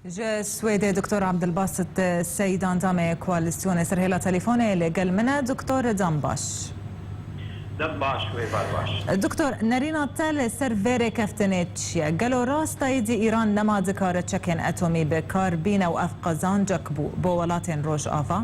Ji Swêdê Doktor Abdulbasit Seîd endamê koalîsyonê ser hêla telefone li gel min e. Doktor dem baş. Dem baş wê bar baş. Doktor nerîna te li ser vê rêkeftinê çi ye? Gelo rast e îdî Îran nema dikare çekên etomî bi kar bîne û ev qezancek bû bo welatên Rojava?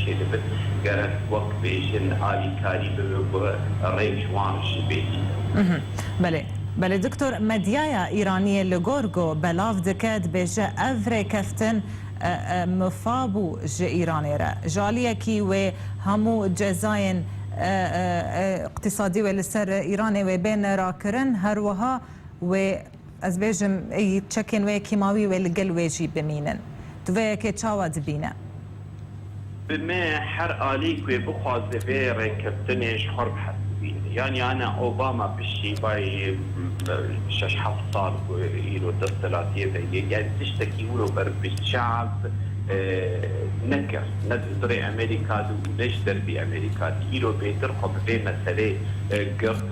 Çêdibin gerek wek bêjin alîkarî bibe ku rê ji wan jî bêdîtin. Belê. Belê diktor, medyaya îraniyê li gor ku belav dike dibêje ev rêkeftin mifa bû ji Îranê re. Ji aliyekî wê hemû cezayên îqtîsadî wê li ser Îranê wê bên rakirin, her wiha wê. Ez bêjim êyî çekên wê kîmawî wê li gel wê jî bimînin. Tu vê yekê çawa dibîne? Bi me her alî ku wê bixwaze vê rêkeftinê ji xwe re hez bibîne. Yanî ana Obama piştî bay şeş heft sal ku îro desthilatiyê de yê yanî tiştekî wilo ber bi çav nekir. Ne di zirê Amerîka de û ne ji derbî Amerîka de. Îro bêtir xwe bi vê meselê girt.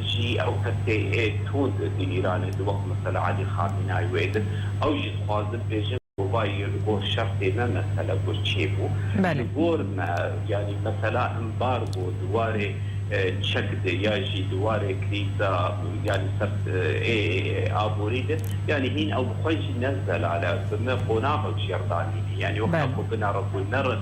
Jî ew kesê ê tund di Îranê di wek mesela Elî Xamînay wê di. Ew jî dixwazin bêjin ku vay yo li gor şertê me mesele gor çê bû. Li gor me yanî mesela embargo di warê çek de ya jî di warê krîza yanî ser ê aborî de yanî hîn ew bi xwe jî ne zelal e. Bi me qonax ew jêrdanînê yanî wexta ku bina re ku nerin.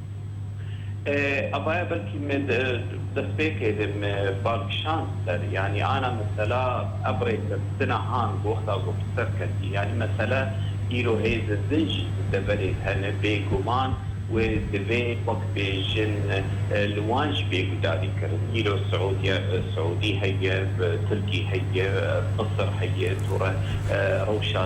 Avaya belkî me destpêkê de me bal kişand ser yanî ana mesela ev rêkeftina han goxta ku bi ser ketî yanî mesela îro hêzên din jî di deverê de hene bêguman wê divê wek bêjin li wan jî bê gudarî kirin îro siûdiya siûdî heye tirkî heye misir heye tûre rewşa